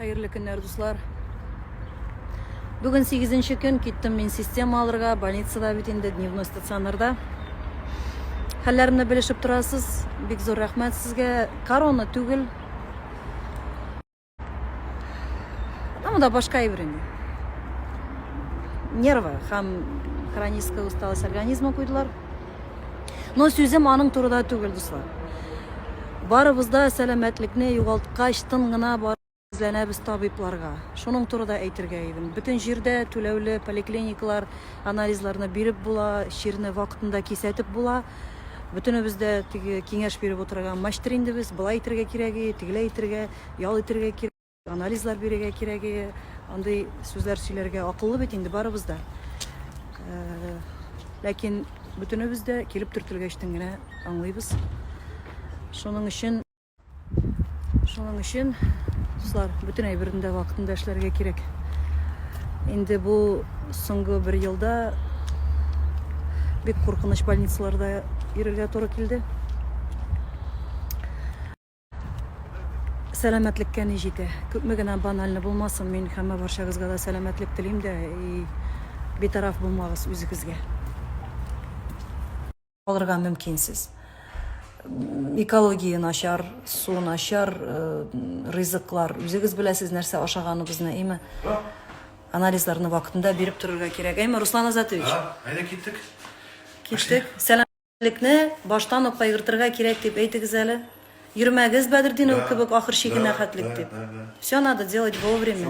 Хәерле көннәр, дуслар! Бүген сигезенче көн киттем мин система алырга, больницада бит инде, дневной стационарда. Хәлләремне белешеп торасыз, бик зур рәхмәт сезгә. Корона түгел. Ну да башка әйбер инде. Нервы һәм хроническая усталость организма куйдылар. Но сүзем аның турыда түгел, дуслар. Барыбыз да сәламәтлекне югалткач, тын гына барып эзләнәбез табибларга. Шуның турыда әйтергә идем. Бөтен җирдә түләүле поликлиникалар, анализларны биреп була, чирне вакытында кисәтеп була. Бөтенебез дә теге киңәш биреп утырган мачтыр инде без, болай итергә кирәге, тегеләй итергә, ял итергә кирәк. Анализлар бирергә кирәге, андый сүзләр сөйләргә акыллы бит инде барыбыз да. Ләкин бөтенебез дә килеп төртелгәчтен генә аңлыйбыз. Шуның өчен шуның өчен дуслар, бөтен әйберне дә вакытында эшләргә кирәк. Инде бу соңгы бер елда бик куркыныч больницаларда йөрергә туры килде. Сәламәтлеккә ни җитә. Күпме генә банальны булмасын, мин һәммә барчагызга да сәламәтлек телим дә и битараф булмагыз үзегезгә. Алырга мөмкинсез. Экология начар, су начар, э, ризыклар. Үзегез беләсез нәрсә ашаганыбызны, әйме? Анализларны вакытында биреп торырга кирәк, әйме, Руслан Азатович? Әйдә киттек. Киттек. Сәлам Лекне баштан ук кайгыртырга кирәк дип әйтегез әле. Йөрмәгез Бәдердинов кебек ахыр чигенә хәтлек дип. Все надо делать вовремя.